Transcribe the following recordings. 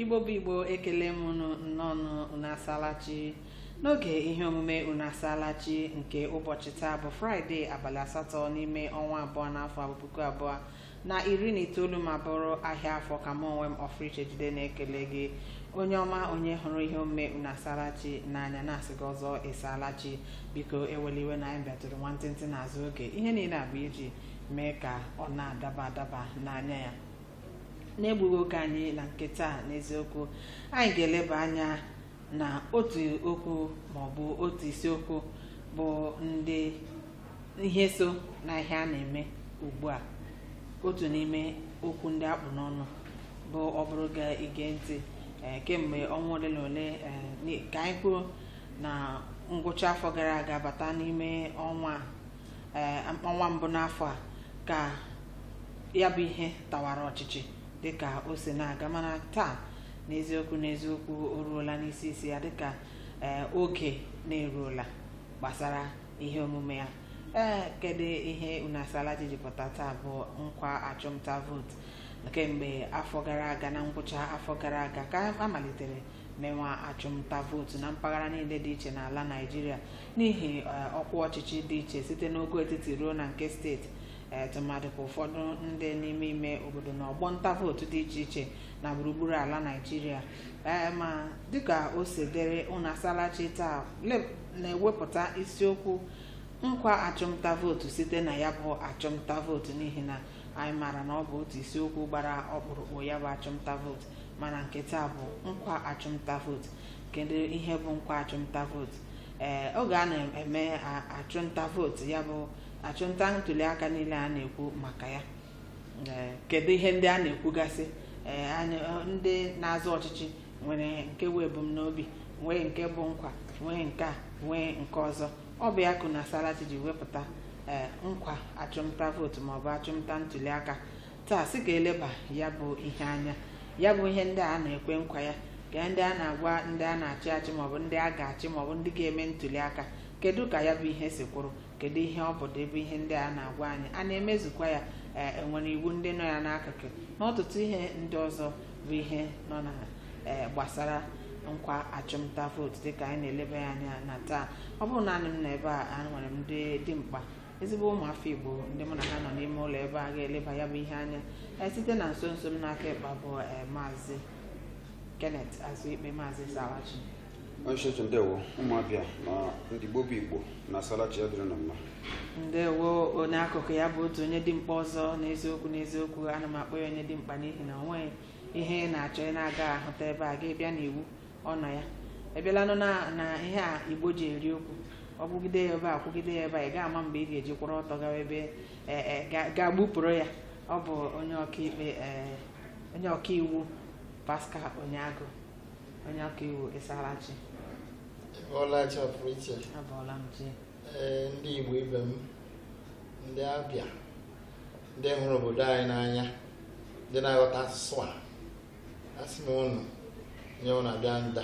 igbo bụ igbo ekele m unu nnọọ unu asalachi n'oge ihe omume unu asalachi nke ụbọchị taa bụ fraịde abalị asatọ n'ime ọnwa abụọ n'afọ a bụ puku abụọ na iri na itoolu ma bụrụ ahịa afọ ka mụ onwe m ọfriche jide na-ekele gị onye ọma onye hụrụ ihe omume unu asalachi n'anya na-asị gị ọzọ ịsalachi biko ewela iwe na anyị bịatụrụ nwantịntị n'azụ oge ihe niile a bụ iji mee ka ọ na-adaba adaba n'anya ya n'egbughị oge anyị na nke taa n'eziokwu anyị ga-eleba anya na otu okwu ma ọ bụ otu isiokwu bụ ndị ihe so na ihe a na-eme ugbu a otu n'ime okwu ndị a kpụ n'ọnụ bụ ọ bụrụ ga ige ntị ee, kemgbe ọnwa ole na ole ee, ni- ka anyị kwuo na ngwụcha afọ gara aga bata n'ime ọnwa a ee ọnwa mbụ n'afọ a ka ya bụ ihe tawara ọchịchị dịka o si na-aga mana taa n'eziokwu n'eziokwu o ruola n'isi isi ya dịka ee oge na-eruola gbasara ihe omume ya ee kedu ihe unu asalachi ji pụta taa bụ nkwa achụmnta vootu kemgbe afọ gara aga na ngwụcha afọ gara aga ka a malitere mewa achụmnta vootu na mpaghara niile dị iche n'ala naijiria n'ihi eh, ọkwa ọchịchị dị iche site n'ogo etiti ruo na nke steeti eh, tụmadị ka ụfọdụ ndị n'ime ime obodo na ọgbọ nta vootu dị iche iche na gburugburu ala naijiria Eh, ma dịka o si dịrị unu asalachi taa le- na-ewepụta isiokwu nkwa achụmnta vootu site na ya bụ achụmnta vootu n'ihi na anyị maara na ọ bụ otu isiokwu gbara ọkpụrụkpụ ya bụ achụmnta vootu mana nke taa bụ nkwa achụmnta vootu kedu ihe bụ nkwa achụmnta vootu ee oge a na-eme a- achụmnta vootu ya bụ achụmnta ntuliaka niile a na-ekwu maka ya ee, kedu ihe ndị a na-ekwugasị ee, a na- ndị na-azọ ọchịchị nwere nke bụ ebumnobi nwee nke bụ nkwa nwee nke a nwee nke ọzọ ọ bụ ya ka unu asalachi ji wepụta ee, nkwa achụmnta vootu maọbụ achụmnta ntuliaka taa sị ka e leba ya bụ ihe anya ya bụ ihe ndị a na-ekwe nkwa ya ka ndị a na-agwa ndị a na-achị achị maọbụ ndị a ga-achị maọbụ ndị ga-eme ntuli aka kedu ka ya bụ ihe si kwụrụ kedu ihe ọ pụta ebe ihe ndị a na-agwa anyị a na-emezukwa ya ee e nwere iwu ndị nọ ya n'akụkụ na ọtụtụ ihe ndị ọzọ bụ ihe nọ na ee gbasara nkwa achụmnta vootu dịka anyị na-eleba ya anya na taa ọ bụrọ naanị m nọ ebe a enwere m ndị dị mkpa ezigbo ụmụafọ igbo ndị mụ na ha nọ n'ime ụlọ ebe a ga-eleba ya bụ ihe anya ee, site na nso nso m n'aka ikpa bụ ee, maazị kenneth azụikpe maazị ịsalachi onye isi oche ndewo ụmụabịa na ndị igbo bụ igbo na asalachi ya dịrị na mma ndewo onye akụkụ ya bụ otu onye dimkpa ọzọ n'eziokwu n'eziokwu ana m akpọ ya onye dimkpa n'ihi na onweghị ihe ị na-achọ ị na-aga ahụta ebe a gị bịa n'iwu ọ nọ ya a bịalanụ na na ihe a igbo ji eri okwu ọ kwugide ya ebe a kwugide ya ebe a ị ga-ama mgbe ị ga-eji kwụrụ ọtọ gawa ebe e, e, ga- ga-agbupụrụ ya ọ bụ onye ọkaikpe e, onye ọkaiwu Pascal Onyeagụ onye ọkaiwu Ịsalachi Ọlachi pụrụ iche abụọla m ji ee ndị Igbo ibe m ndị Abịa ndị hụrụ obodo anyị n'anya ndị na-aghọta asụsụ a asị m ụnụ nye ụnụ abịa nda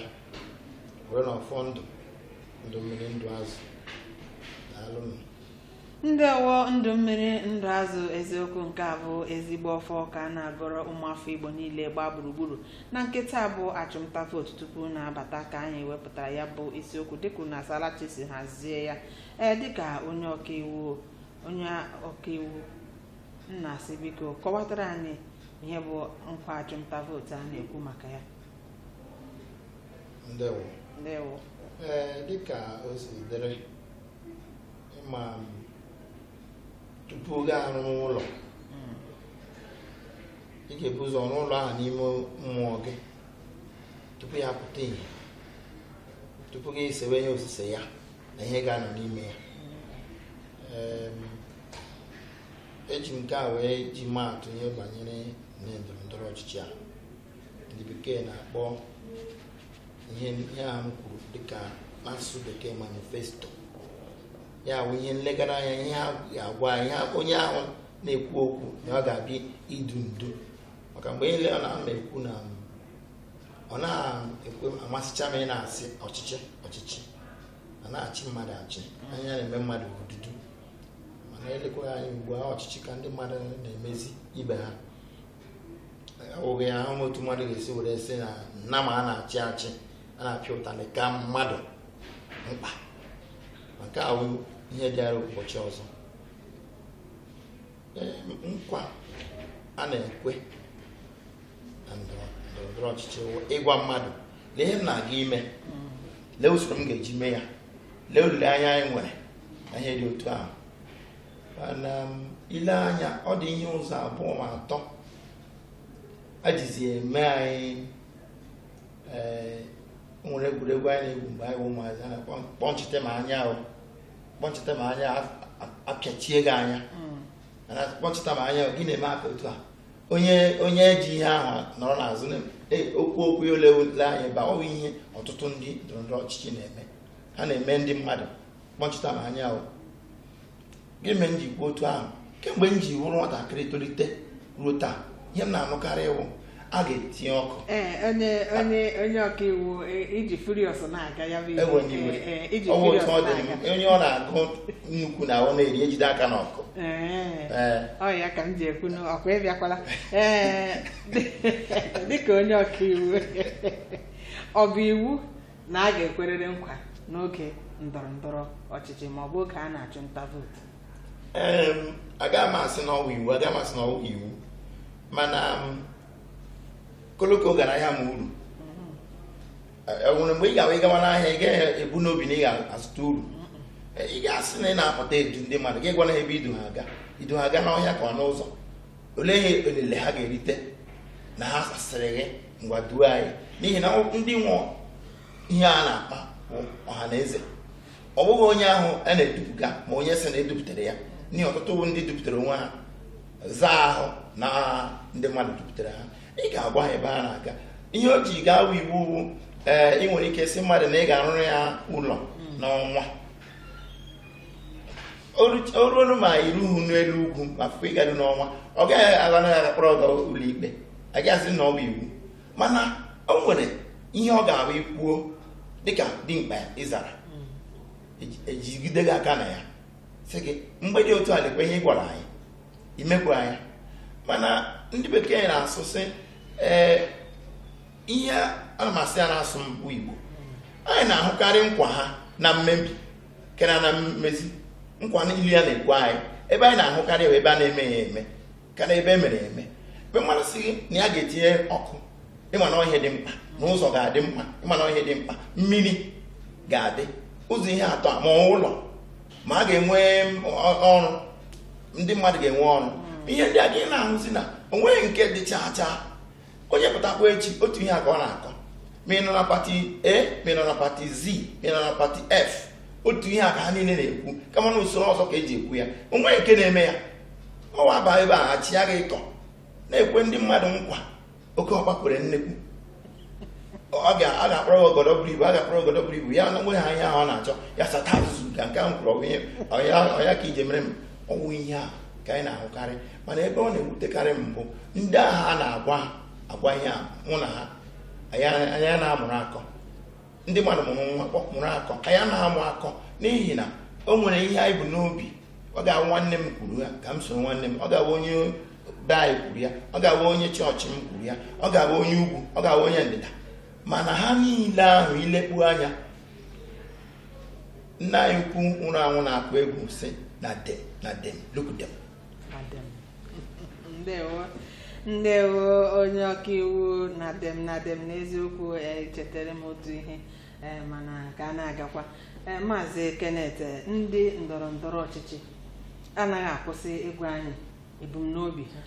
were na ọfọ ndụ ndụ mmiri ndụ azụ daalụnụ ndewo ndụ mmiri ndụ azụ eziokwu nke a bụ ezigbo ọfọ ka a na-agọrọ ụmụafọ igbo niile gbaa gburugburu na nke taa bụ achụmnta vootu tupu na-abata ka anyị wepụtara ya bụ isiokwu dịka na asalachi si hazie ya ee dịka onye ọkaiwu onye ọkaiwu m na-asị biko kọwatara anyị ihe bụ nkwa achụmnta vootu a na-ekwu maka ya ndewo ndewo ee dịka o si dịrị ị ma m, tupu gị arụ ụlọ Mm, ị ga-ebu ụzọ rụọ ụlọ ahụ n'ime mmụọ gị tupu ya pụta ihe tupu gị esewe ihe osise ya na ihe ga-anọ n'ime ya Em, eji m nke a wee ji maa atụ ihe banyere na ndọrọ ndọrọ ọchịchị a ndị bekee na-akpọ ihe a m kwuru dịka n'asụsụ bekee manifesto ya bụ ihe nlegara anya ihe a ga-agwa ihe onye ahụ na-ekwu okwu na ọ ga-abịa idu ndu maka mgbe niile ọ na-ekwu na ọ na-ekwe amasịcha m ị na-asị ọchịchị ọchịchị a na-achị mmadụ achị anyị na-eme mmadụ odudu mana elekwa anyị ugbu a ọchịchị ka ndị mmadụ na-emezi ibe ha ọ wụ ebe ahụ otu mmadụ ga-esi were sị na nnama a na-achị achị a na-apịa ụtalị ka mmadụ mkpa nke a wụ ihe dịara ụbọchị ọzọ nkwa a na-ekwe na ndọrọndọrọ ọchịchị ịgwa mmadụ lee ihe m na-aga ime lee usoro m ga-eji mee ya lee olileanya anyị nwere na ihe dị otu ahụ mana um, ile anya ọ dị ihe ụzọ abụọ ma atọ e jizi eme anyị ee o nwere egwuregwu anyị na-egwu mgbe anyị bụ ụmụazị a na-akpọ ncheta ma anya ahụ kpọchita m anya apịachie gị anya kpọchita m anya gị na-eme aka otu a onye onye ji ihe ahụ nọrọ n'azụ e, okwu okwu ya ole ole anyị ba ọ wụ ihe ọtụtụ ndị ndọrọndọrọ ọchịchị na-eme ha na-eme ndị mmadụ kpọchita m anya ọ gị mee m ji kwuo otu ahụ kemgbe m ji wụrụ nwatakịrị tolite ruo taa ihe m na-anụkarị wụ a ga-etinye ọkụ ee onye onye onye ọka iwu e- iji furios na-aga ya bụ ihe. enwe m iwe Ee, ee, iji ọ bụ furios otu ọ dị na-aga m, onye ọ na-agụ nnukwu na ọ na-eri ejide aka n'ọkụ Ee. ee ọ ya ka m ji ekwu na ọ kwa ị bịakwala ee dịka onye ọka iwu ọ bụ iwu na a ga-ekwerịrị nkwa n'oge ndọrọ ndọrọ ọchịchị ma ọ bụ oge a na-achụ nta vootu Em, agaghị m asị na ọ wụ iwu agaghị m asị na ọ wụ iwu mana um, koloko gara ahịa ma uru e nwere mgbe ị ga-abụ ịgawa n'ahịa ị gaghị ebu n'obi na ị ga-azụta uru ị ga-asị na ị na-apụta edu ndị mmadụ gị gwanụ ha ebe i du ha aga i du ha aga n'ọhịa ka ọ n'ụzọ olee ihe elele ha ga-erite na ha sasịrị gị ngwa duo anyị n'ihi na ndị nwe ihe a na-akpa bụ ọha na eze ọ bụghị onye ahụ a na-edupụga ma onye sị na e dupụtara ya n'ihi ọtụtụ bụ ndị dupụtara onwe ha zaa ahụ na ndị mmadụ dupụtara ha ị ga-agwa ha ebe a na-aga ihe o ji gaa awụ iwu wụ ee ị nwere ike sị mmadụ na ị ga-arụrụ ya ụlọ n'ọnwa o ruo nụ ma i ruhu n'elu ugwu ma fọkwa ịgaru n'ọnwa ọ gaghị agha na ya akpọrọ gị ụlọ ikpe agaghị asị na ọ bụ iwu mana o nwere ihe ọ ga-abụ i kwuo dịka dimkpa ị zara e jigide gị aka na ya sị gị mgbe dị otu a lekwa ihe ị gwara anyị i mekwa anyị mana ndị bekee na-asụ sị ee ihe a ma sị ya n'asụsụ igbo anyị na-ahụkarị nkwa ha na mmebi karịa na mmezi nkwa niile a na-ekwe anyị ebe anyị na-ahụkarị ebe a na-eme ya eme ka na ebe e mere eme mgbe mmadụ sị gị na ya ga-etinye ọkụ ị ma na ihe dị mkpa na ụzọ ga-adị mma ị ma na ọ ihe dị mkpa mmiri ga-adị ụzọ ihe atọ a ma ụlọ ma a ga-enwe ọrụ ndị mmadụ ga-enwe ọrụ ihe ndị a gị na-ahụzi na o nweghị nke dị chaa chaa onye pụtakwa echi otu ihe a ka ọ na-akọ ma ị nọ na pati a ma ị nọ na pati z ma ị nọ na pati f otu ihe a ka ha niile na-ekwu kama na usoro ọzọ ka e ji ekwu ya o nwee nke na-eme ya ọwa aba ebe a achị ya gị ịkọ na-ekwe ndị mmadụ nkwa oke ọkpa kwere nnekwu ọ ga-akpọrọ ogodo buru ibu a ga-akpọrọ ogodo buru ibu ya nweta ihe ahụ ọ na-achọ ya sata azụzụ ka nke ahụ kwuru ọ ya ka ije mere m ọ wụ ihe a ka anyị na-ahụkarị mana ebe ọ na-ewutekarị m bụ ndị ahụ a na-agwa agwa ihe a wụ na ha anaghị amụrụ akọ ndị mmadụ mụrụ nwa mụrụ akọ anyị anaghị amụ akọ n'ihi na o nwere ihe anyị bu n'obi ọ ga-awụ nwanne m kwuru ya ka m soro nwanne m ọ ga-awụ onye be anyị kwuru ya ọ ga-awụ onye chọọchị m kwuru ya ọ ga-awụ onye ugwu ọ ga-awụ onye ndịda mana ha niile ahụ ilekpu anya nna anyị ukwu nwụrụ anwụ na-akụ egwu sị na dem na dem look dem Na dem. ndewo ndewo onye ọkaiwu na dem na dem n'eziokwu eh, chetara m otu ihe eh, mana ka a na-agakwa Eh, maazị Kenneth eh, ndị ndọrọ ndọrọ ọchịchị anaghị akwụsị ịgwa anyị ebumnobi ha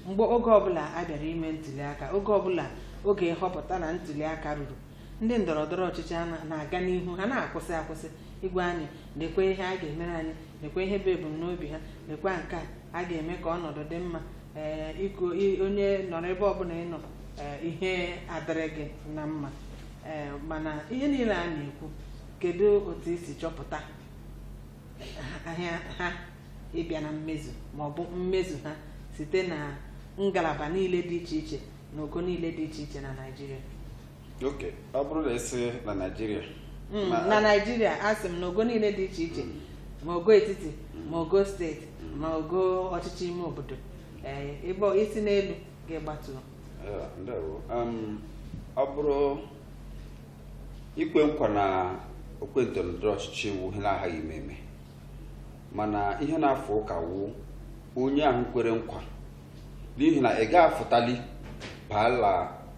mgbe oge ọbụla a bịara ime ntuli aka oge ọbụla oge nhọpụta na ntuli aka ruru ndị ndọrọ ndọrọ ọchịchị a na- na-aga n'ihu ha anaghị akwụsị akwụsị ịgwa anyị lekwe ihe a ga-emere anyị lekwa ihe bụ ebumnobi ha lekwa nke a a ga-eme ka ọnọdụ dị mma ee ịkụ ị- onye nọrọ ebe ọbụla ị nọ ee, ihe adịrị gị na mma ee mana ihe niile a na-ekwu kedu otu i si chọpụta ahịa ha ịbịa na mmezu ma ọ bụ mmezu ha site na ngalaba niile dị iche iche na ogo niile dị iche iche na Naịjirịa okay ọ bụrụ na ị sị na naijiria Mm, Ma- na naijiria asị m na ogo niile dị iche iche ma ogo etiti ma ogo steeti ma ogo ọchịchị ime obodo ee, ebe ọ- i si n'elu ga-agbatu Eh, ndewo Em, ọ bụrụ ikwe nkwa na okwe ndọrọndọrọ ọchịchị wụ ihe na-aghaghị ime eme mana ihe na-afụ ụka wụ onye ahụ kwere nkwa n'ihi na ị gaghị afụtali baa la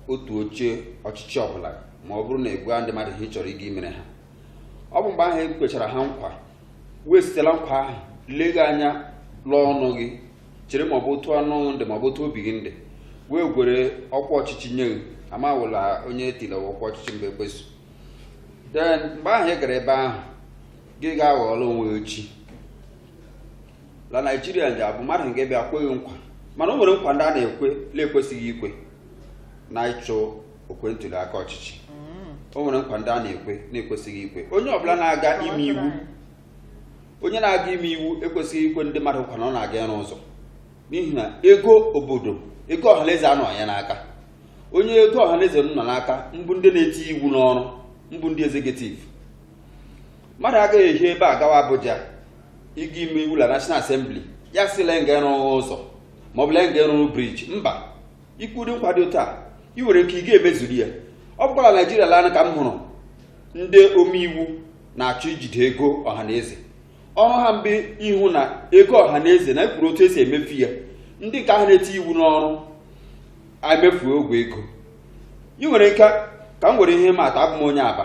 otu oche ọchịchị ọbụla ma ọ bụrụ na ị gwaghị ndị mmadụ ihe ị chọrọ ịga imere ha ọ bụ mgbe ahụ e kwechara ha nkwa wee site la nkwa ahụ lee gị anya lụọ ọnụ gị chere ma ọ bụ otu ọnụ dị ma ọ bụ otu obi gị dị wee gwere ọkwa ọchịchị nye gị amawụla onye etila ọkwa ọchịchị mgbe ekpeso den mgbe ahụ ị gara ebe ahụ gị ga-aghọọla onwe echi la naijiria ndị abụ mmadụ nke bịa kwe gị nkwa mana o nwere nkwa ndị a na-ekwe na-ekwesịghị ikwe na ịchụ okwe ntuli aka ọchịchị o nwere nkwa ndị a na-ekwe na-ekwesịghị ikwe onye ọbụla na-aga ime iwu onye na-aga ime iwu ekwesịghị ikwe ndị mmadụ nkwa na ọ na-aga ịrụ ụzọ n'ihi na ego obodo ego ọhaneze anọghị ya n'aka onye ego ọhaneze nọ n'aka bụ ndị na-eti iwu n'ọrụ bụ ndị executive mmadụ agaghị ehi ebe a gawa Abuja ịga ime iwu la National Assembly ya sị la nga ịrụ ụzọ ma ọ bụ la nga ịrụrụ briji mba ikwe ụdị nkwa dị otu a ị nwere ike ị ga-emezuru ya ọ bụkwa la Naijiria lanị ka m hụrụ ndị omeiwu na-achọ ijide ego ọha na eze ọrụ ha mbụ ịhụ na ego ọha na eze na ekwuru otu esi emefu ya ndị nke ahụ na-eti iwu n'ọrụ emefuo ogwe ego ị nwere ike ka m were ihe maa atụ abụ m onye Aba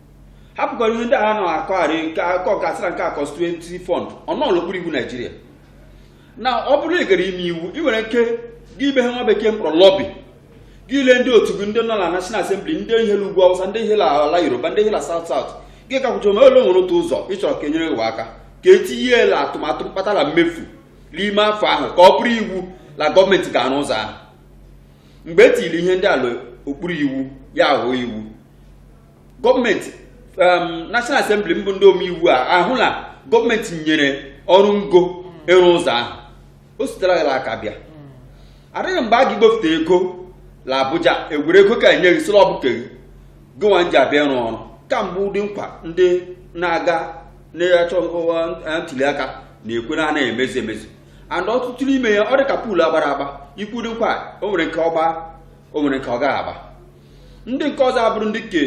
hapụkwara ihe ndị a na-akọgharị nke akọ gasịra nke a constituency fund ọ nọọ la okpuru iwu naijiria na ọ bụrụ na ị gara ime iwu ị nwere ike gị ime ihe nwa bekee mkpọrọ lobby gị la ndị otu gị ndị nọ na national assembly ndị hi la ugwu awụsa ndị hi la ala yoruba ndị hi la south south gị gakwucha ome ole nwere otu ụzọ ị chọrọ ka enyere gị aka ka etinye la atụmatụ mkpata na mmefu n'ime afọ ahụ ka ọ bụrụ iwu la gọọmenti ga-arụ ụzọ ahụ mgbe e tiri ihe ndị a la okpuru iwu ya aghọọ iwu gọọmenti um, National Assembly mbụ ndị omeiwu a ahụ na gọọmenti nyere ọrụ ngo ịrụ ụzọ ahụ o sitere ya aka bịa adịghị mgbe a ga igbofute ego na Abuja egwere ego ka enye gị sị la ọ bụ ke gị gịnwa nji abịa ịrụ ọrụ ke a mbụ ụdị nkwa ndị na-aga na-achọ ntuli aka na-ekwe na anaghị emezi emezi and ọtụtụ n'ime ya ọ dị ka pool agbara agba ikwe ụdị nkwa o nwere nke ọ gbaa o nwere nke ọ gaghị agba ndị nke ọzọ abụrụ ndị ke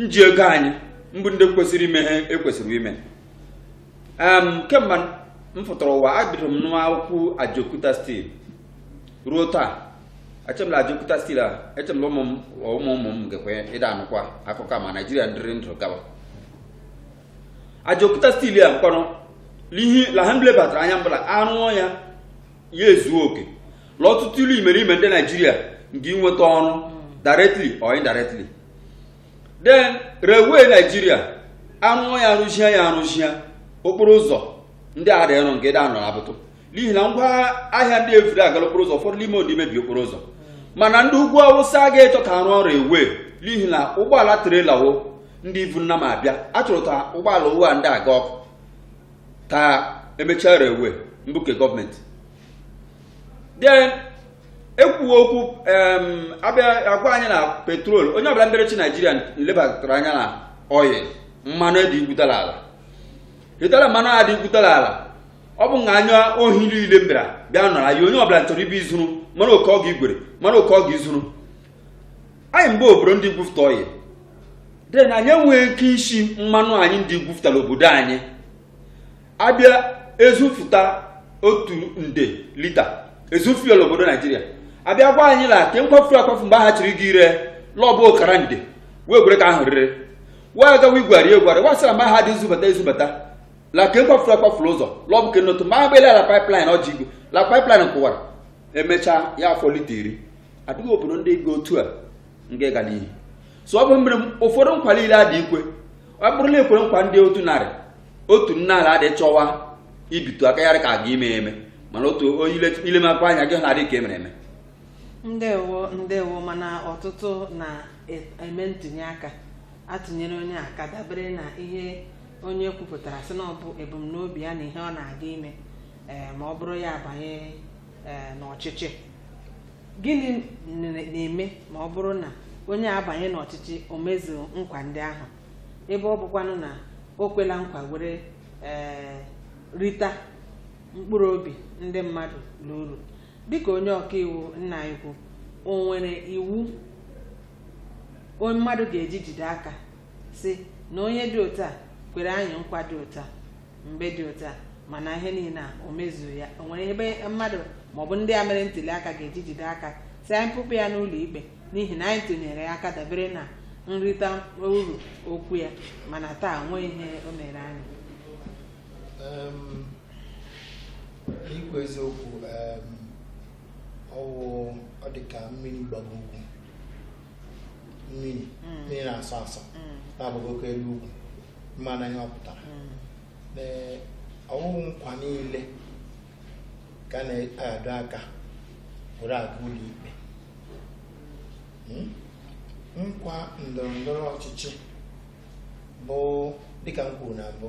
nji ego anyị mbụ ndị kwesịrị ime ihe ekwesịrị ime kemgbe m pụtara ụwa adịrị m anụ akụkọ Ajaokuta steel ruo taa eche m la Ajaokuta steel a eche m la ụmụ ụmụ ụmụ m gakwa ịdị anụkwa akụkọ ma naijiria ndịrị ndụ gawa Ajaokuta steel a m kpọrọ lihi la ha lebatara anya mbụ la arụọ ya ya ezuo oke la ọtụtụ la imerime ndị naijiria nga inweta ọrụ directly or indirectly then railway naijiria arụọ ya arụzia ya arụzia okporo ụzọ ndị a dị arụ nga ịdị anọ abụtụ n'ihi na ngwa ahịa ndị evuru aga la okporo ụzọ ụfọdụ n'ime ndị mebiri okporo ụzọ mana ndị ugwu awụsa ga-echọ ka arụọ railway n'ihi na ụgbọala trailer wo ndị ivu nnama abịa achọrọ ka ụgbọala wo a ndị aga ọkụ ka emechie railway mbụ ke gọọmenti then ekwuo okwu abịa agwa anyị na petrol onye ọbụla mbịara ịchị naijiria lebatara anya na oil mmanụ dị igwuta la ala ịtara mmanụ a dị igwuta la ala ọ bụ na anya ohi niile mbịara bịa nọrọ anyị onye ọbụla chọrọ ịbịa izuru mmanụ oke ọ ga igwere mmanụ oke ọ ga izuru anyị bụ obodo ndị gwufta oil then anyị enweghị ike isi mmanụ anyị ndị gwuftara obodo anyị abịa ezufụta otu nde lita ezu fuel obodo naijiria abịa gwa anyị na ke nkwafu akwafu mgbe ha chịrị gị ire l'ọ bụ ọkara nde wee gwere ka ahụ rere wee agawa igwari egwari wasara mgbe ha dị izubata izubata la ke nkwafuru akwafuru ụzọ l'ọ bụ ke n'otu ma agbela la pipeline ọjị igwe la pipeline kụwara emechaa ya afọ lita iri adịghị obodo ndị ga otu a nke ga n'ihu so ọ bụ mere ụfọdụ nkwa niile adị ikwe ọ bụrụ na ekwere nkwa ndị otu narị otu nnaa la adị chọwa ibitu aka ya ka aga ime eme mana otu ilemakwa anya gị na-adị ka emere eme ndewo ndewo mana ọtụtụ na-eme e, ntụnye aka atụnyere onye aka dabere na ihe onye kwupụtara sị na ọ bụ ebumnobi ya na ihe ọ na-aga ime ee eh, ma ọ bụrụ ya abanye ee, n'ọchịchị gịnị n- na-eme ma ọ bụrụ na onye a abanye n'ọchịchị o mezuo nkwa ndị ahụ ebe ọ bụkwanụ na o kwela nkwa were ee, rita mkpụrụ obi ndị mmadụ n'uru dịka onye ọkaiwu nna anyị ukwu o nwere iwu onye mmadụ ga-eji jide aka sị na onye dị otu a kwere anyị nkwa dị otu a mgbe dị otu a mana ihe niile a o mezughị ya o nwere ebe mmadụ maọbụ ndị a mere ntuli aka ga-eji jide aka sị anyị kpụpụ ya n'ụlọ ikpe n'ihi na anyị tụnyere ya aka dabere na nrita uru okwu ya mana taa o nweghị ihe o mere anyị Em, ikwu eziokwu em, ọ wụ ọ dị ka mmiri gbara ugwu mmiri mmiri na-asọ asọ na-agbagokwa elu ugwu mana ihe ọ pụtara Ee, ọ wụghị nkwa niile ka a na-adọ aka were aga ụlọ ikpe Mm? nkwa ndọrọ ndọrọ ọchịchị bụ dịka m kwuru na mbụ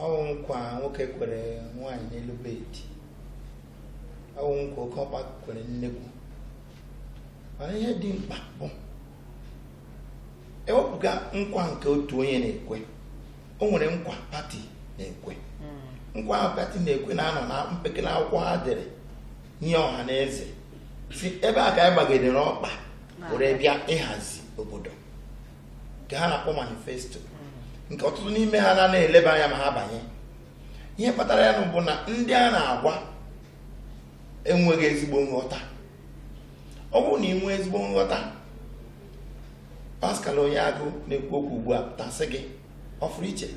ọ wụ nkwa nwoke kwere nwaanyị n'elu bed ọ wụ nkwa oke ọkpa kwere nnekwu ihe dị mkpa bụ ewepụga nkwa nke otu onye na-ekwe o nwere nkwa pati na-ekwe hmm. nkwa ahụ pati na-ekwe na-anọ na mpekele akwụkwọ ha dere nye ọha na eze sị ebe a ka anyị gbagidere ọkpa were bịa ịhazi obodo nke ha na-akpọ manifesto hmm. nke ọtụtụ n'ime ha na-anaghị eleba anya ma ha banye ihe kpatara ya bụ na ndị a na-agwa enweghị ezigbo nghọta ọ bụrụ na ị nwee ezigbo nghọta Pascal onye agụ na-ekwu okwu ugbu a tasị gị ọ fụrụ iche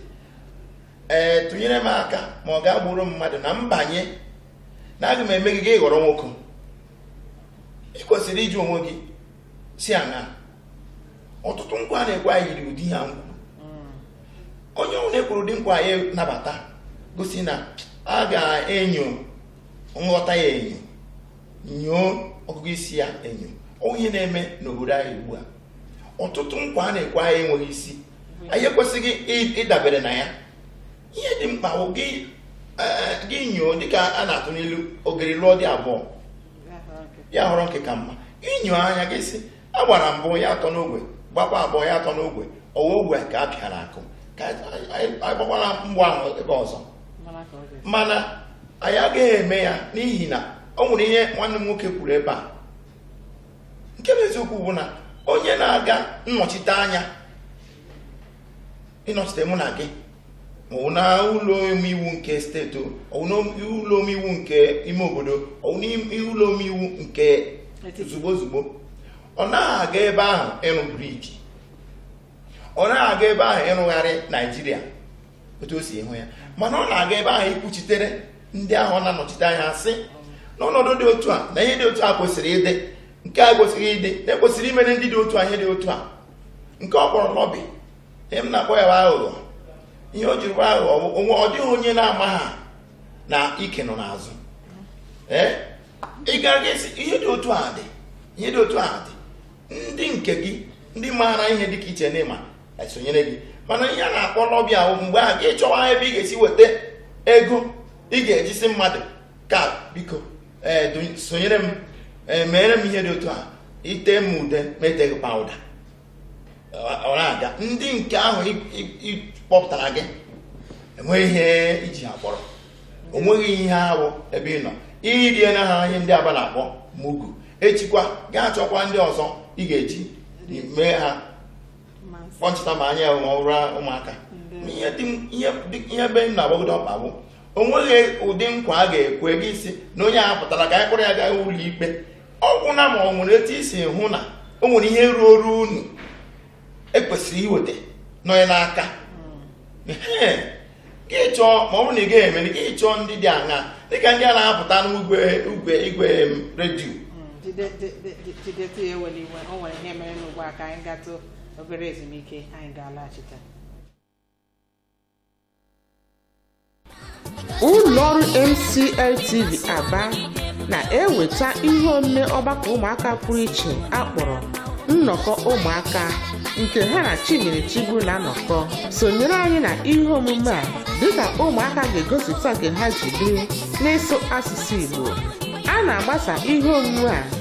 ee tụnyere m aka ma ọ ga-agburu mmadụ na mbanye na aga m eme gị gị ghọrọ nwoke ị kwesịrị ịjụ onwe gị sị aṅa ọtụtụ nkwa a na-ekwe anyị yiri ụdị ihe ahụ kwuru onye ọwụna ekwuru ụdị nkwa anyị nabata gosi na a ga-enyo nghọta ya enyo nyoo ọgụgụ isi ya enyo ọ wụ ihe na-eme n'obodo anyị ugbu a ọtụtụ nkwa a na-ekwe anyị enweghị isi anyị ekwesịghị ịdabere na ya ihe dị mkpa bụ gị inyo dịka a na-atụ n'ilu ogeri lụọ di abụọ ya họrọ nke ka mma i nyoo anya gị sị a gbara mbụ ya atọ n'ogwe gbakwa abụọ ya atọ n'ogwe ọ wụ ogwe ka a pịara akụ ka anyị gbakwara mgbọ ahụ ebe ọzọ mana anyị agaghị eme ya n'ihi na o nwere ihe nwanne m nwoke kwuru ebe a nke bụ eziokwu bụ na onye na-aga nnọchite anya ịnọchite mụ na gị ọwụ na ụlọ omeiwu nke steeti ọwụ na ụlọ omeiwu nke ime obodo ọwụ na ụlọ omeiwu nke ozugbo ozugbo ọ naghị aga ebe ahụ ịrụ bridge ọ naghị aga ebe ahụ ịrụgharị Naịjirịa otu o si hụ ya mana ọ na-aga ebe ahụ ikwuchitere ndị ahụ ọ na-anọchite anya sị na ọnọdụ dị otu a na ihe dị otu a kwesịrị ịdị nke a kwesịrị ịdị na e kwesịrị imere ndị dị otu a ihe dị otu a nke ọ kpọrọ lobby ihe m na-akpọ ya bụ aghụghọ ihe o jiri bụ aghụghọ ọ bụ onwe ọ dịghị onye na-ama ha na ike nọ n'azụ ee ị gara gị sị ihe dị otu a dị ihe dị otu a dị ndị nke gị ndị maara ihe dị ka i che na ị ma esonyere gị mana ihe a na-akpọ lobby ahụ mgbe ahụ gị chọwa ebe ị ga-esi weta ego ị ga-eji sị mmadụ ka biko ee do- sonyere m ee meere m ihe dị otu a i tee m ude m etee gị powder ọ na-aga ndị nke ahụ kpọpụtara gị enweghị ihe i ji ha kpọrọ onweghị ihe ahụ ebe ị nọ i riena ha ihe ndị Aba na-akpọ mugu echikwa gaa chọkwa ndị ọzọ ị ga-eji mee ha kpọnchịta ma anya ma ọ bụrụ ụmụaka ihe ebe m na-agbado ọkpa bụ o nweghị ụdị nkwa a ga-ekwe gị ị sị na onye a pụtara ka anyị kpụrụ ya gaa ụlọ ikpe ọ gwụna ma ọ nwere etu i si hụ na o nwere ihe ruoro unu ekwesịrị iweta nọ onye n'aka gị chọọ ma ọ bụrụ na ị gaghị emeri gị chọọ ndị dị aṅa dịka ndị a na-apụta n'ugwe igwe igwe redio jideta ya ewela iwe o nwere ihe mere n'ugbu a ka anyị gatụ obere ezumike anyị ga-alaghachite ụlọọrụ MCLTV Aba na-eweta ihe omume ọgbakọ ụmụaka pụrụ iche a kpọrọ nnọkọ ụmụaka nke ha na Chinyere Chigbu na-anọkọ sonyere anyị na ihe omume a dịka ụmụaka ga-egosipụta nke ha ji biri n'ịsụ asụsụ Igbo a na-agbasa ihe omume a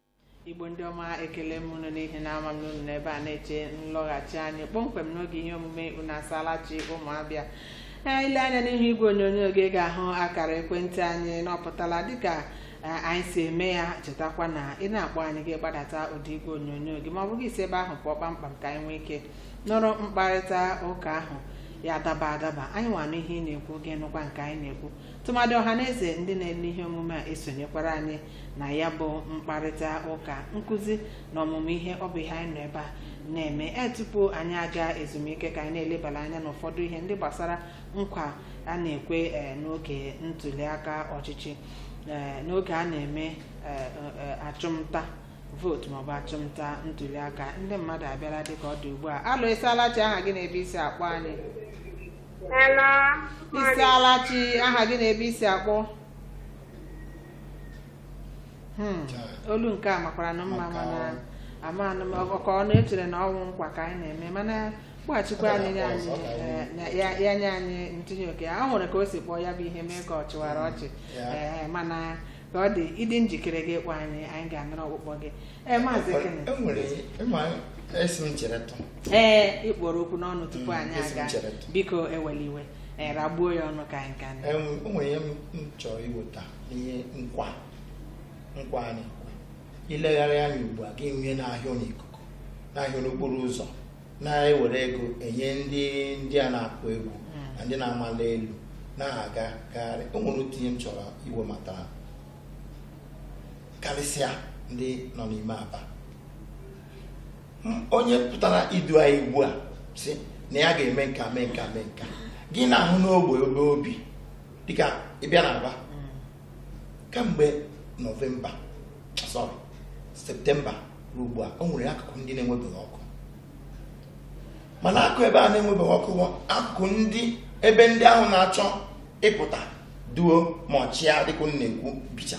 igbo ndị ọma ekele m unu n'ihi na ama m na unu nọ ebe a na-eche nlọghachi anyị kpọmkwem n'oge ihe omume unu asaala chi ụmụ Abịa ee i lee anya n'ihu igwe onyonyo gị ga-ahụ akara ekwentị anyị na ọ pụtala dịka eh, anyị si eme ya chetakwa na ị na-akpọ anyị gị gbadata ụda igwe onyonyo gị ma ọ bụ gị si ebe ahụ pụọ kpamkpam ka anyị nwee ike nụrụ mkparịta ụka ahụ ya daba adaba anyịnwa anụ ihe ị na-ekwu gị nụkwa nke anyị na-ekwu tụmadị ọha na eze ndị na-ele ihe omume a esonyekwara anyị na ya bụ mkparịta ụka nkụzi na ọmụmụ ihe ọ bụ ihe anyị nọ ebe a na-eme e tupu anyị aga ezumike ka anyị na-elebara anya n'ụfọdụ ihe ndị gbasara nkwa a na-ekwe eh, n'oge ntuliaka ọchịchị eh, n'oge a na-eme eh, eh, achụmnta vootu maọbụ achụmnta ntuliaka ndị mmadụ abịala dịka ọ dị ugbu a alo ị saala chi aha gị na ebe i si akpọ anyị Hello. ị saala chi aha gị na ebe i si akpọ Hmm, olu nke a makwaranụ mma Maka mana ọ- ama anụ m ọgọ ka ọ na-echere na ọ wụ nkwa ka anyị na-eme mana kpọghachikwa anyị nye anyị eh, na- ya ya nye anyị ntinye ụka o nwere ka o si kpọọ ya bụ ihe mee ka ọ chịwara ọchị Ya. Eh, mana ka ọ dị ị dị njikere gị kpọọ anyị anyị ga-anụrụ ọkpụkpọ gị ee maazị Kenneth enwere ịma esi m chere tụ ee ị kpụrụ okwu n'ọnụ tupu Mm, anyị esi m aga chere tụ. biko ewela iwe eh, ragbuo ya ọnụ ka anyị ka anyị Em, o nwere ihe m m chọrọ iweta n'ihe nkwa nkwa a na-ekwe i legharịa anya ugbu a gị nwee n'ahịa ọ n'ikuku n'ahịa n'okporo ụzọ na-ewere ego enye ndị ndị a na-akụ egwu na ndị na-amali elu na-aga gagharị o nwere otu ihe m chọrọ iwebata karịsịa ndị nọ n'ime Aba onye pụtara idu anyị ugbu a sị na ya ga-eme nka mee nka mee nka gị na-ahụ n'ogbe ebe o bi dịka ị bịa na Aba kamgbe nọvemba sọrị septemba ruo ugbu a o nwere akụkụ ndị na-enwebeghị ọkụ mana akụkụ ebe a na-enwebeghị ọkụ bụ akụkụ ndị ebe ndị ahụ na-achọ ịpụta duo ma ọchịa dịka m na-ekwu bicha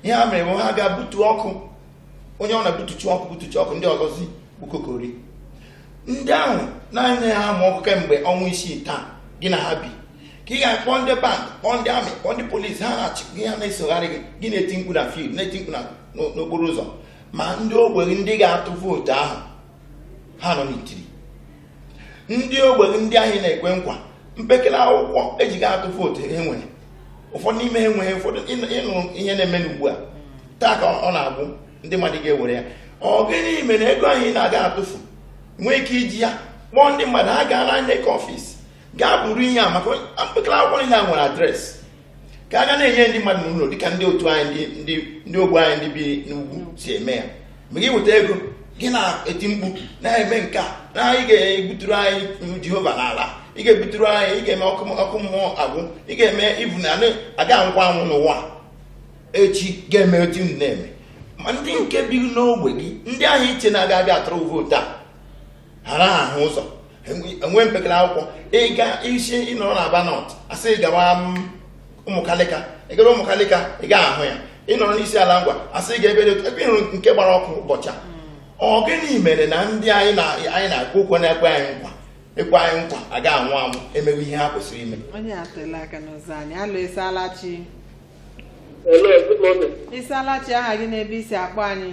ihe ha mere bụ ha ga-butu ọkụ onye ọ na-butuchi ọkụ butuchi ọkụ ndị ọzọzi bukokori ndị ahụ na-anaghị ama ọkụ kemgbe ọnwa isii taa gị na ha bi ka ị ga-akpọ ndị band kpọọ ndị amị kpọọ ndị polisi ha na-eche gị ha na-esogharị gị gị na-eti mkpu na field na-eti mkpu n'okporo ụzọ ma ndị ogbenye ndị ga-atụ vootu ahụ ha nọ n'itiri ndị ogbe gị ndị ahụ ị na-ekwe nkwa mpekele akwụkwọ e ji aga atụ vootu e nwere ụfọdụ n'ime ha enweghị ụfọdụ ị nụrụ ihe na-eme n'ugbu a taa ka ọ na-agwụ ndị mmadụ ga-ewere ya ọ gịnị mere na ego ahụ ị na-aga atụfu nwee ike iji ya kpọọ ndị mmadụ ha gaa na INEC ọfịs gaa buru ihe a maka mpekele akwụkwọ niile a nwere adreesị ka a ga na-enye ndị mmadụ n'ụlọ dịka ndị otu anyị ndị ogbo anyị ndị bi n'ugwu si eme ya ma gị weta ego gị na-eti mkpu na-eme nke a na ị ga-ebuturu anyị jehova n'ala ị ga-ebuturu anyị ị ga-eme ọkụ mmụọ agwụ ị ga-eme even na a ga anwụkwa anwụ n'ụwa echi ga-eme otu m na-eme ma ndị nke bi n'ogbe gị ndị ahụ i che na ha ga-abịa atụrụ vootu a ghara ahụ ụzọ enwe mpekere akwụkwọ ị ga-asị ị nọrọ na aba north a sị gawa ụmụkalịka ị gara ụmụkalịka ị gaghị ahụ ya ị nọrọ n'isiala ngwa a sị gaa ebe ebe ị hụrụ nke gbara ọkụ ụbọchị a ọ gịnị mere na ndị anyị na-ekwu okwu na-ekwe anyị nkwa ekwe anyị nkwa a ga anwụ anwụ emewe ihe ha kwesịrị ime onye akụọla aka n'ụzọ anyị hello ị saala chi Hello, good morning. ị saala chi aha gị na ebe i si akpọ anyị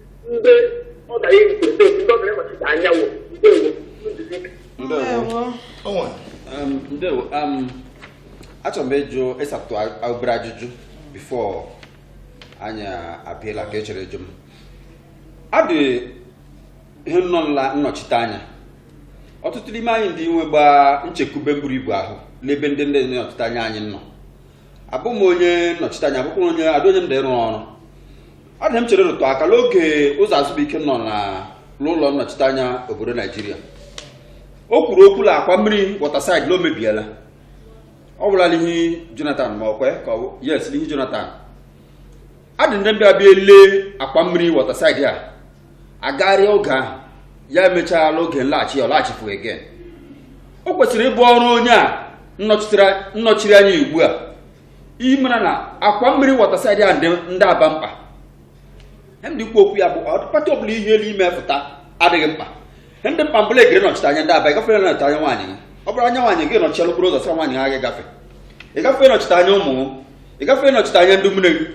ndị ọ na ya nke ndị ndị ọbụla nnọchite anya ndewo nduzi ndewo onwe Um, ndewo um, achọrọ m ịjụ ịsatụ a- obere ajụjụ before anyị abịala ka ị chọrọ ịjụ m ọ dị ihe nnọ nla nnọchite anya ọtụtụ n'ime anyị ndị nwe gbaa nchekwube buru ibu ahụ n'ebe ndị ndị nnọchite anya anyị nọ abụ m onye nnọchiteanya abụkwụ onye adị onye m dị ịrụ ọrụ ọ dị ihe m chere rụtụ aka n'oge ụzọ azụbuike nọ na n'ụlọ nnọchiteanya obodo naijiria o kwuru okwu la akwa mmiri waterside na o mebiela ọ gwụla l'ihu jonathan ma ọkwe ka yes l'ihu jonathan ọ dị ndị bịa bịa lee akwa mmiri waterside a agagharịa oge ahụ ya emechaala oge nlaghachi ya ọ laghachipụ again o kwesịrị ịbụ ọrụ onye a nọchiri anya ugbu a ịmara na akwa mmiri waterside a ndị aba mkpa ndị ikwu okwu ya bụ ọ dị party ọbụla i hi l'ime fụta adịghị mkpa dị mkpa bụ la ị gara nọchite anya ndị aba ịgafere nọchite anya nwaanyị gị ọ bụrụ anya nwaanyị gị nọchiela okporo ụzọ sị nwaanyị ha gị gafe ịgafere nọchite anya ụmụ gị ịgafere nọchite anya ndị mmiri gị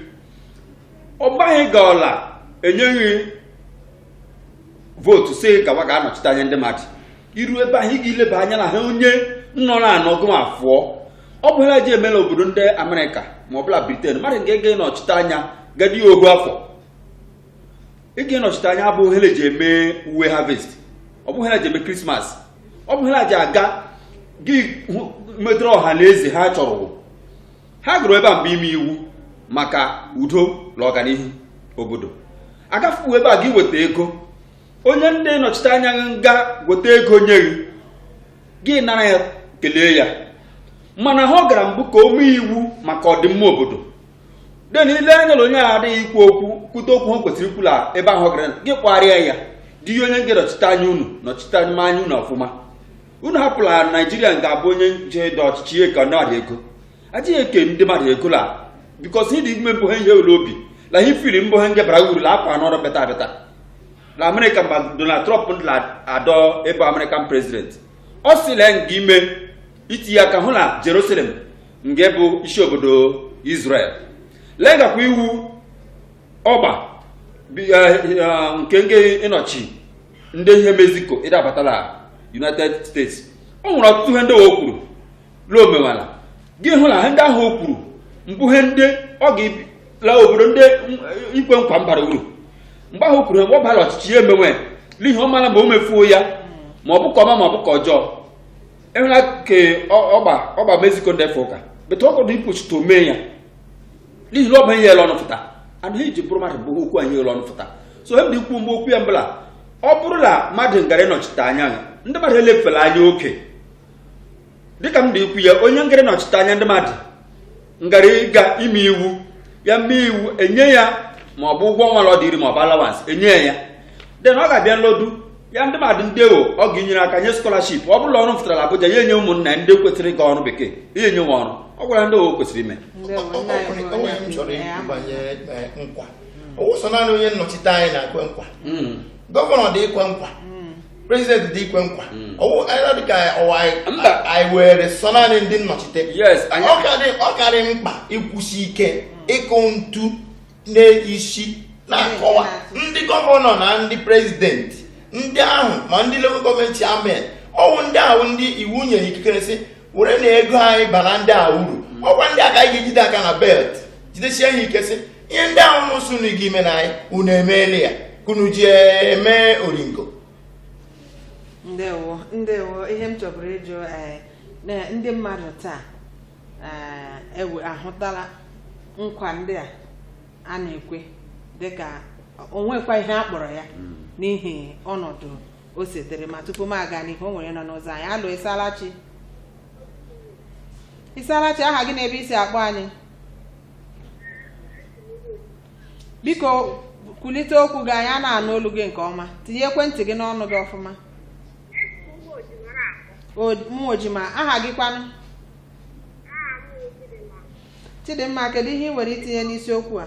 ọ gbaghị gị ọla enyeghị vootu si gawa ga anọchite anya ndị mmadụ iru ebe ahụ ị ga-ileba anya na ha onye nọ na anọ gụm afụọ ọ bụ ha ji emela obodo ndị amerịka ma ọ bụ la britain mmadụ ga-ege nọchite anya gadi ohu afọ ịga ịnọchite anya bụ ihe na-eji eme uwe harvest ọ bụ ihe na-eji eme krismas ọ bụ ihe na-eji aga gị hụ- metụrụ ọha na eze ha chọrọ ha gara ebe a mbụ ime iwu maka udo na ọganihu obodo agafuo ebe a gị weta ego onye ndị nọchite anya gị nga weta ego nye gị gị nara ya kelee ya mana ihe ọ gara mbụ ka o mee iwu maka ọdịmma obodo den ile anya na onye a adịghị ikwu okwu kwute okwu ha kwesịrị ikwu la ebe ahụ gara gị kwarịa ya dị ihe onye ga-anọchite anya unu nọchite anya anya unu ọfụma unu hapụla naijiria ga-abụ onye nje dị ọchịchị ihe ka na adị ego adịghị eke ndị mmadụ ego la bikos ịdị ime mbụ ha ihe ụlọ obi la ihe firi mbụ ha ngebara uru la akwa n'ọrụ beta beta na amerịka mgbe donald trump adọ ebe amerịkan prezident ọ sị la nga ime itinye aka hụ na jerusalem nga-abụ isi obodo israel la ngakwa iwu ọgba bi- eh, eh, nke nke ịnọchi ndị ihe mexico ịdabata la united states o nwere ọtụtụ ihe ndị o kwuru la o mewela gị hụ na ihe ndị ahụ o kwuru mbụ ihe ndị ọ ga-la obodo ndị m- ikwe nkwa mbara uru mgbe ahụ o kwuru mgbe ọ bara ọchịchị ya emewe n'ihi ọ mara ma o mefuo ya ma ọ bụ ke ọma ma ọ bụ ke ọjọọ enwela ke ọgba ọgba mexico ndefe ụka but ọ ka dị ikwuchite o mee ya n'ihi na ọ bụ ihe ele ọnụ fụta and ihe e ji bụrụ mmadụ bụ okwu anyị ele ọnụ fụta so ihe m dị ikwu ebe okwu ya mbụ la ọ bụrụ na mmadụ ngara ịnọchite anya ya ndị mmadụ elefela anya oke dịka m dị ikwu ya onye ngara ịnọchite anya ndị mmadụ ngara ịga ime iwu ya mee iwu enye ya ma ọ bụ ụgwọ ọnwa ọ dịrị ma ọ bụ alawansị enye ya den ọ ga-abịa nlodu ya ndị mmadụ ndị ewo ọ ga-enyere aka nye skọlaship ọ bụ la ọrụ fụtara la Abuja ya enye ụmụnna ndị kwesịrị ịga ọrụ bekee ya enye wo ọrụ ọ gwụla ndị owo kwesịrị ime nkwa onye nnọchite anya na-ekwe nkwa hmm. gọvanọ dị ikwe nkwa hmm. prezidenti dị ikwe nkwa hmm. dịka anyị were sọ naanị ndị nnọchite ọ karị mkpa ịkwụsị ike ịkụ ntu n'isi na-akọwa ndị gọvanọ na ndị prezidenti ndị ahụ ma ndị local gọọmenti chairmen ọ wụ ndị ahụ ndị iwu nyere ikikere sị werenụ ego anyị baara ndị a uru ọ kwa ndị a ka anyị ga-ejide aka na belt jidesie ha ike sị ihe ndị ahụ unu sị unu ga imena anyị unu emeela ya ka unu ji eme oringo ndewo ndewo ihe m chọburu ịjụ eh, na ndị mmadụ taa eh, ewe ahụtala nkwa ndị a a na-ekwe dịka o nwekwa ihe a kpọrọ ya n'ihi ọnọdụ o sitere ma tupu m aga n'ihu o nwere nọ n'ụzọ anyị hello ịsalachi ịsalachi aha gị na ebe i si akpọ anyị biko kulite okwu gị anyị anaghị anụ olu gị nke ọma tinye ekwentị gị n'ọnụ gị ọfụma ọ dị mma aha gị kwanụ chidimma kedu ihe ị nwere itinye n'isiokwu a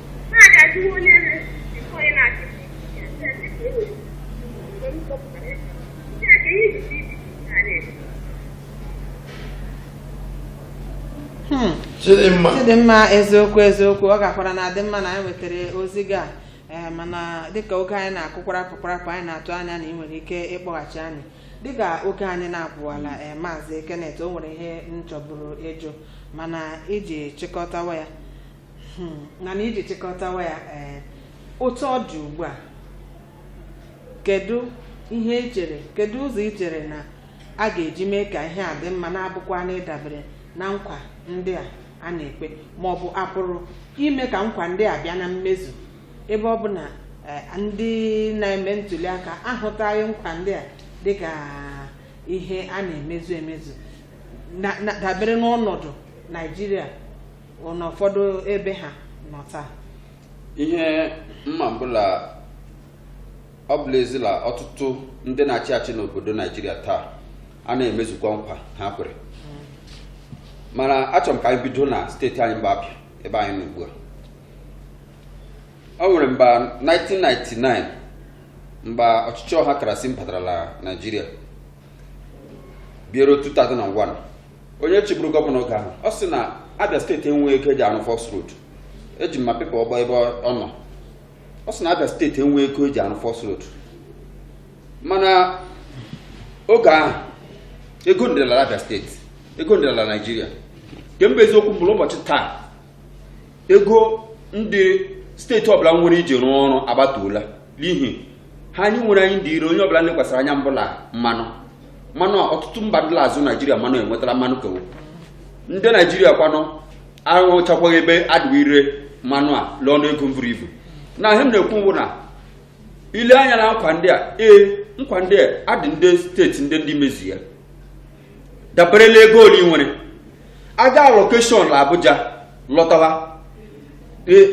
Hmm. chidimma chidimma eziokwu eziokwu ọ gakwara na-adị mma na anyị nwetara ozi gị a ee mana dịka oge anyị na-akụ kwarapụ kwarapụ anyị na-atụ anya na ị nwere ike ịkpọghachi anyị dịka oge anyị na-apụwala ee maazị Kenneth o nwere ihe m chọburu ịjụ mana iji chịkọtawa ya naanị iji chịkọtawa ya ee otu ọ dị ugbu a kedu ihe i chere kedu ụzọ i chere na a ga-eji mee ka ihe a dị mma na-abụkwa na ịdabere na nkwa ndị a a na-ekwe ma ọ bụ a pụrụ ime ka nkwa ndị a bịa na mmezu ebe ọ bụ na eh, ndị na-eme ntuli aka ahụtaghị nkwa ndị a dịka ihe a na-emezu emezu na- na- dabere n'ọnọdụ Naijiria n'ụfọdụ ebe ha nọ taa ihe m ma bụ la ọ bụ l'ezi la ọtụtụ ndị na-achị achị n'obodo naijiria taa anaghị emezukwa nkwa ha kwere mana achọrọ m ka anyị bido na steeti anyị mbụ abịa ebe anyị nọ ugbu a o nwere mba 1999 mgbe ọchịchị ọhakrasị batara la naijiria bịa ruo 2001 onye chịburu gọvanọ oge ahụ ọ sị na abịa steeti enweghị ego e ji arụ Faulks Road eji m ma pepa ọgbọ ebe ọ nọ ọ sị na abịa steeti enweghị ego e ji arụ Faulks Road mana oge ahụ ego dịla la abịa steeti ego dịla la naijiria ke mbụ eziokwu mbụ la ụbọchị taa ego ndị steeti ọbụla nwere iji rụọ ọrụ agbatuola n'ihi ihe anyị nwere anyị dị ire onye ọbụla lekwasịrị anya mbụ la mmanụ mmanụ ọtụtụ mba ndị la-azụ naijiria mmanụ enwetala mmanụ ke wo ndị naijiria kwanụ ahụchakwaghị ebe a dị ire mmanụ a l'ọnụ ego mburu ibu na ihe m na-ekwu bụ na i lee anya na nkwa ndị a ee nkwa ndị a adị ndị steeti ndị ndị mezu ya dabere n'ego ole ị nwere a gaa allocation na abuja lọtawa ee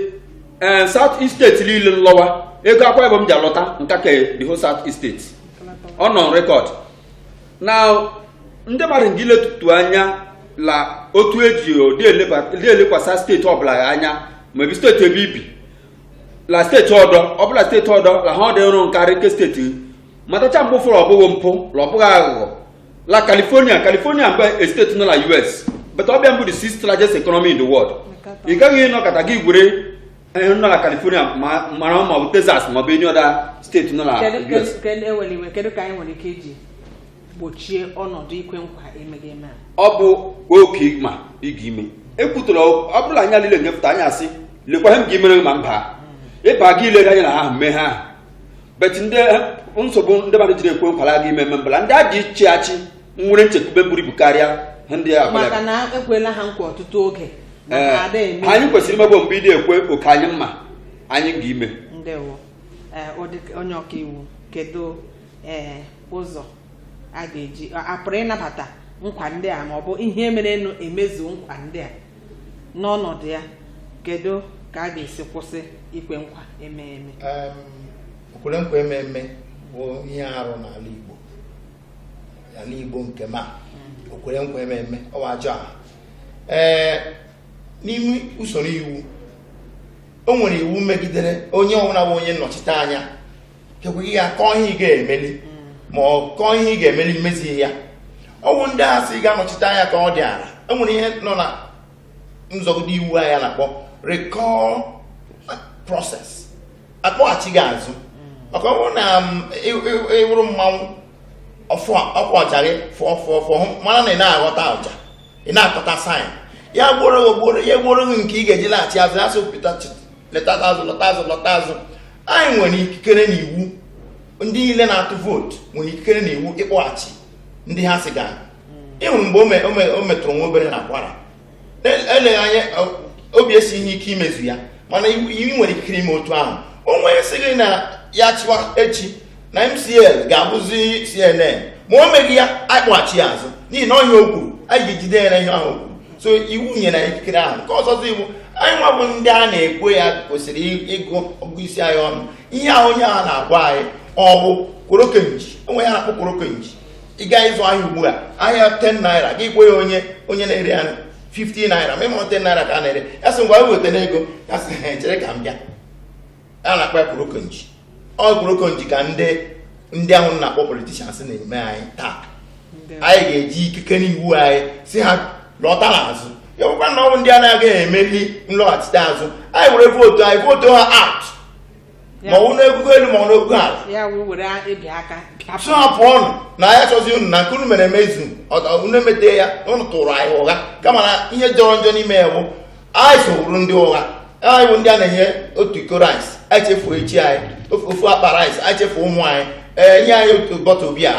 ee, south east steeti niile nlọwa ego akwa ibom ji alọta nka ka the whole south east steeti ọ nọ record na ndị mmadụ ndị letutu anya la otu eji ụdị eleba- ụdị elekwasa steeti ọbụla ya anya ma ebi steeti ebe ibi la steeti ọdọ ọbụla steeti ọdọ la ha ọdị ịrụ nkarị nke steeti matacha mgbe ụfọdụ ọbụghị mpụ la ọbụghị aghụghọ la california california mbụ a state nọ na us but ọ bịa mbụ the sixth largest economy in the world ị gaghị ịnọkata gị gwere ihe nọ na california ma- mara ma ọ bụ texas ma ọ bụ any other state nọ na kedu us kedu- kedu ewere iwe kedu ka anyị nwere ike iji gbochie ọnọdụ ikwe nkwa emeghị eme a ọ bụ oke ị ma ị ga-ime ekwutụla ọ bụrụ la anyị niile nyepụta anya asị lekwa ihe m ga-emere gị ma m baa ịba gị ilere anya na ha mee ha ahụ but ndị eh, nsogbu ndị mmadụ jiri ekwe nkwa la aga ime eme mbụ la ndị a ji ịchị achị nwere nchekwube buru ibu karịa ndị a bịara. maka na ekwela ha nkwa ọtụtụ oge na Ee, ha ada eme anyị kwesịrị imegbo mgbe ị na-ekwe oke anyị mma anyị ga ime ndewo ee ọ dị- onye ọka iwu kedu ee ụzọ a ga-eji a pụrụ ịnabata nkwa ndị a ma ọ bụ ihe mere nụ emezu nkwa ndị a n'ọnọdụ ya kedu ka a ga-esi kwụsị ikwe nkwa eme eme Em, okwere nkwa eme eme bụ ihe arụ n'ala Igbo n'ala Igbo nke m ma okwere nkwa eme eme ọ bụ ajọ aha ee n'ime usoro iwu o nwere iwu megidere onye ọbụla bụ onye nnọchite anya kekweghị ya kọọ ihe ọ ga-emeli ma ọ kọọ ihe ọ ga-emeli emezighị ya ọ wụ ndị a sị ga-anọchite anya ka ọ dị ala enwere ihe nọ na nzọgide iwu anyị a na-akpọ recall process a kpọghachi gị azụ maka ọ bụrụ na ị wụrụ mmanwụ ọkwa ọja gị fụọ fụọ fụọ mana na ị na-aghọta ọja ị na-aghọta sign ya gbuoro ya gbuoro gị nke ị ga-eji laghachi azụ ya sị pụta lọta azụ lọta azụ lọta azụ anyị nwere ikikere na iwu ndị niile na-atụ vootu nwere ikikere na iwu ịkpọghachi ndị ha sị gaa ị hụrụ mgbe o me- o me- o metụrụ nwa obere na kwara Ele- eleghị anya o- obi esi ihe ike imezu ya mana iwu iwu nwere ikikere ime otu ahụ onye sị gị na ya chịwa echi na mcl ga-abụzi cnn ma o meghị ya anyị kpọghachi ya azụ n'ihi na ọ ihe a o kwuru anyị ga-ejide ya na ihe ahụ o kwuru so iwu nyere anyị ikikere ahụ nke ọzọzi wụ anyị nwa bụ ndị a na-ekwe ya kwesịrị ị- ịgụ ọgụ isi anyị ọnụ ihe ahụ onye ahụ na-agwa anyị ọ bụ kworokenji o nwere ihe a na-akpọ kworokenji ị gaa ịzụ ahịa ugbu a ahịa 10 naira gị kwe ya onye onye na-ere ya 50 naira ma ị ma 10 naira ka a na-ere ya sị ngwa wetanụ ego ya sị "He, chere ka m bịa a na-akpọ ya korokonji ọ korokonji ka ndị ndị ahụ na-akpọ politicians na-eme anyị taa anyị ga-eji ikike n'iwu anyị sị ha lọta n'azụ ya bụkwa na ọ bụ ndị a na-agaghị emeli nlọghachite azụ anyị were vootu anyị vootu ha out ma ọ wụ n'ogogo elu ma ọ n'ogogo ala ya wee were ebi aka pịapụ. sị ha pụọnụ na anyị achọzi unu na nke unu mere emezu unu emete ya unu tụrụ anyị ụgha kama na ihe jọrọ njọ n'ime ya bụ anyị so wụrụ ndị ụgha anyị bụ ndị a na-enye otu iko rice anyị chefuo echi anyị ofu ofu akpa rice anyị chefuo ụmụ anyị e nye anyị otu bọtụl bia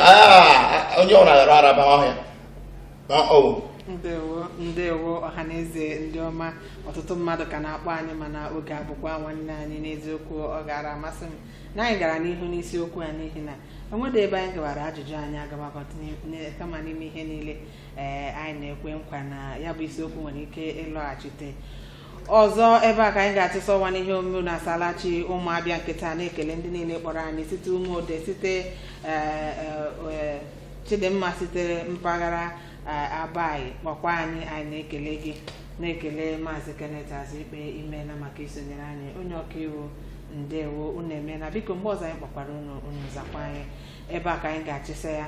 onye ọbụla ghara araba ọhịa Ma ọ bụ ndewo ndewo ọhaneze ndị ọma ọtụtụ mmadụ ka na-akpọ anyị mana oge abụkwaghị nwanne anyị n'eziokwu ọ gaara amasị m na anyị gara n'ihu n'isiokwu a n'ihi na e nwedị ebe anyị gawara ajụjụ anyị agabakọta kama n'ime ihe niile ee anyị na-ekwe nkwa na ya bụ isiokwu nwere ike ịlọghachite ọzọ ebe a ka anyị ga-achịsa ọwa n'ihe omume na asala chi ụmụ abịa nke taa na-ekele ndị niile kpọrọ anyị site ụmụode site ee, ee, ee, chidimma sitere mpaghara ee, abayi kpọkwa anyị anyị na-ekele gị na-ekele maazị kenneth azụikpe imeela maka isonyere anyị onye ọkaiwu ndewo unu emeela biko mgbe ọzọ anyị kpọkwara unu unu zakwa anyị ebe a ka anyị ga-achịsa ya